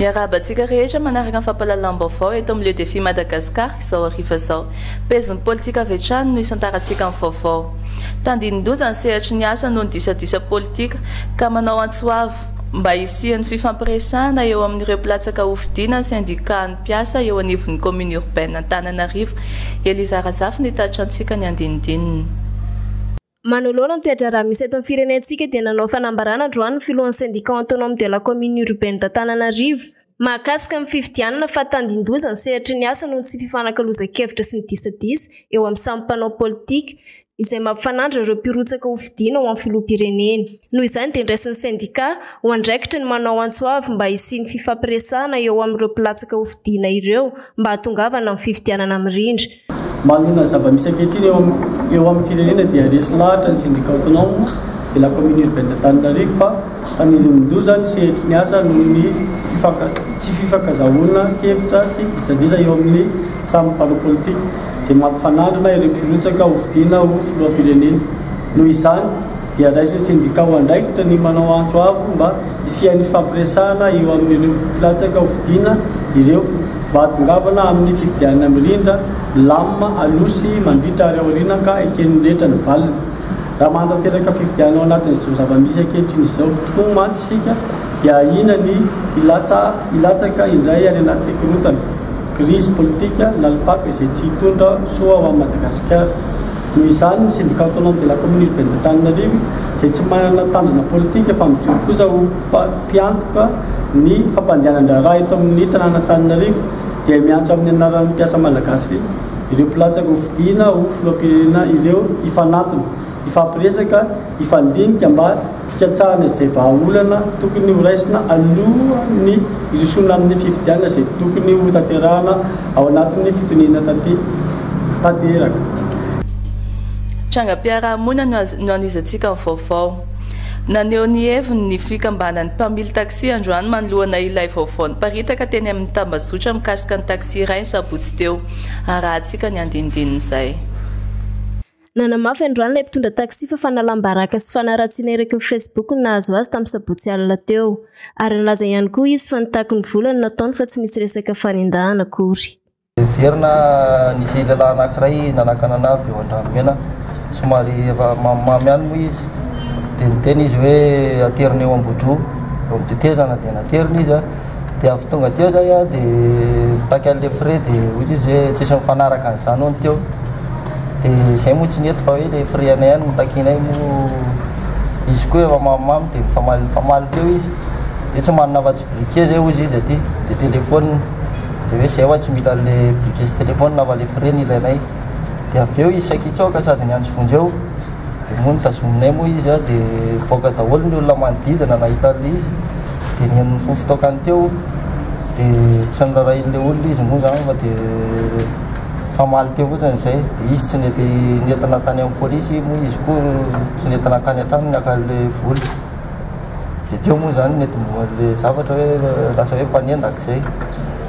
Miarahaba antsika rehetra manaraka ny fampahalalam-baovao eto amin'ny Le Défi Madagascar izao hariva izao. Pezin'ny politika avy hatrany no isantarantsika amin'ny vaovao. Tandindoza ny sehatry ny asa noho ny disadisa politika ka manao antso avo mba hisian'ny fifampiresahana eo amin'ireo mpilatsaka hofidiana syndicat-n'ny mpiasa eo anivon'ny commune urbaine Antananarivo. Eliza Razafy no hitaritra antsika ny andinindininy. Manoloana ny toe-draharaha misy eto amin'ny firenentsika dia nanao fanambarana androany ny filohan'ny Syndicat Autonome de la Commune Urbaine d'Antananarivo mahakasika ny fifidianana fa tandindoza ny sehatry ny asa noho ny tsy fifanakalozan-kevitra sy ny disadisa eo amin'ny samy mpanao politika izay mampifanandrina ireo mpirotsaka hofidiana ho amin'ny filoham-pirenena. Noho izany dia niraisin'ny sendika ho andraikitry ny manao antso avo mba hisian'ny fifampiresahana eo amin'ireo mpilatsaka hofidiana ireo mba hahatongavana amin'ny fifidianana mirindra. Manoloana ny zava-misy ankehitriny eo amin'ny eo amin'ny firenena dia resy lahatra ny Syndicat Autonome de la Commune Urbaine d'Antananarivo fa fanirian-doza ny sehatry ny asa noho ny fifanka tsy fifankazahoana kevitra sy disadisa eo amin'ny samy mpanao politika izay mampifanandrina ireo mpirotsaka hofidiana ho filoham-pirenena. Noho izany, dia andraisin'ny sendika ho andraikitra ny manao antso avo mba hisian'ny fampiresahana eo amin'ireo mpilatsaka hofidiana ireo, mba hahatongavana amin'ny fifidianana mirindra, milamina, aloha sy mandritra ary aoriana ka eken'ny rehetra ny valiny. Raha manatanteraka fifidianana ao anatin'izao zava-misy ankehitriny izao tokoa mantsy isika dia ahiana ny hilatsa hilatsaka indray any anaty korontana, crise politique, nalipaka izay tsy hitondra soa ho an'i Madagasikara. Noho izany, ny Syndicat Autonome de la Commune Urbaine d'Antananarivo, izay tsy manana tanjona politika fa mijoro kosa ho mpiantoka ny fampandehanan-draharaha eto amin'ny tanàn'Antananarivo, dia miantso amin'ny anaran'ny mpiasa malagasy ireo mpilatsaka hofidiana ho filoham-pirenena ireo hifanantona, hifampiresaka, Hifandinika mba hikatsahana izay vahaolana tokony ho raisina alohan'ny hirosoana amin'ny fifidianana izay tokony ho tanterahana ao anatin'ny fitoniana taty tanteraka. Trangam-piarahamonina no hanohizantsika ny vaovao. Naneho ny heviny ny fikambanan'ny mpamily taxi androany manoloana ilay vaovao niparitaka teny amin'ny tambazotra mikasika ny taxi iray ny sabotsy teo. Arahantsika ny andinindininy izay. Nanamafy androany ilay mpitondra taxi fa fanalam-baraka sy fanaratsiana eraky ny Facebook no nahazo azy tamin'ny sabotsy alina teo. Ary nilaza ihany koa izy fa nitaky ny vola no nataony fa tsy nisy resaka fanendahana akory. Heverina nisy lehilahy anankiray nanakana ana avy eo Andranomena, somary efa mamimamy ihany moa izy, dia niteny izy hoe aterina eo Ambodroa, eo amin'ny tetezana dia naterina izy. dia avy tonga teo zay a de mitaky an'le frais de ohatra izy hoe tsisy mifanaraka an'izany hono teo de zay moa tsy nety fa hoe le frais anay ihany notakianay moa izy koa efa mamimamy de mifamaly mifamaly teo izy de tsy manana afa-tsy briquet zay hozy izy aty de telephone de hoe zay hoa tsy mila an'le briquet sy telephone fa le frais no ilainay de avy eo izy sakitsoka sady niantso vonjeo Dia moa notazominay moa izy an, dia nivoaka daholo ny olona manodidina nahita an'ilay izy, dia nihaino ny fo fitaokany teo, dia tsy norarahin'ilay olona izy moa izany fa dia nifamaly teo fotsiny izay, dia izy tsy nety nentina tany amin'ny polisy moa izy koa tsy nety nankany an-tranony naka an'ilay vola, dia teo moa izany no netombohan'ilay zavatra hoe lasa hoe mpanendaka izay.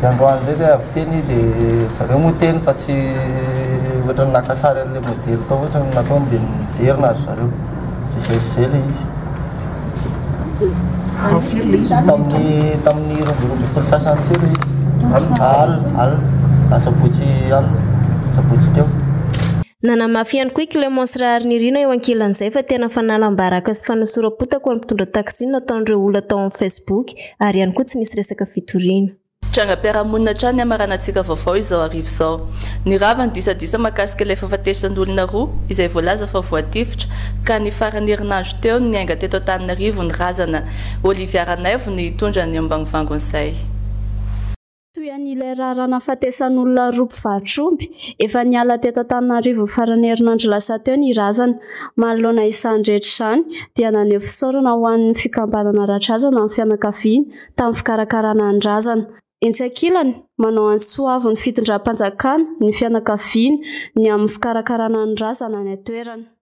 dia androany indray ve avy teny dia zareo moa teny fa tsy ohatran'ny naka sary an'ilay modely tao ohatrany nataony dia niverina ry zareo dia izay sy izay ilay izy Tao firy ilay izy tamin'ny tamin'ny roa amby roa ambin'ny folo sasany teo ilay izy alina alina asabotsy alina asabotsy teo Nanamafy ihany koa i Clémence Raharinirina eo ankilan'izay fa tena fanalam-baraka sy fanosoram-potaka ho an'ny mpitondra taxi no nataon'ireo olona tao amin'ny Facebook ary ihany koa tsy nisy resaka fitoriana. Trangam-piarahamonina hatrany hamaranantsika vaovao izao hariva izao. Nirava ny disadisa mahakasika ilay fahafatesan'olona roa izay voalaza fa voatifitra ka ny faran'ny herinandro teo no niainga teto Antananarivo ny razana. Olivia Ranaivo no hitondra ny ambangovangony izay. Toy an'ilay raharaha nahafatesan'olona roa mpivaro-tr'omby, efa niala teto Antananarivo ny faran'ny herinandro lasa teo ny razana. Manoloana izany rehetra izany dia naneho fisaorana ho an'ny fikambanana Radrazana ny fianakaviana tamin'ny fikarakarana ny razana. Etsy ankilany, manao an'i Soavo ny fitondram-panjakana ny fianakaviana ny amin'ny fikarakarana ny razana any an-toerana.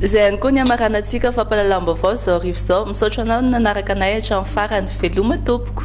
Izay ihany koa ny hamaranantsika fampahalalam-baovao izao hariva izao. Misaotra anao nanaraka anay hatramin'ny farany. Veloma tompoko.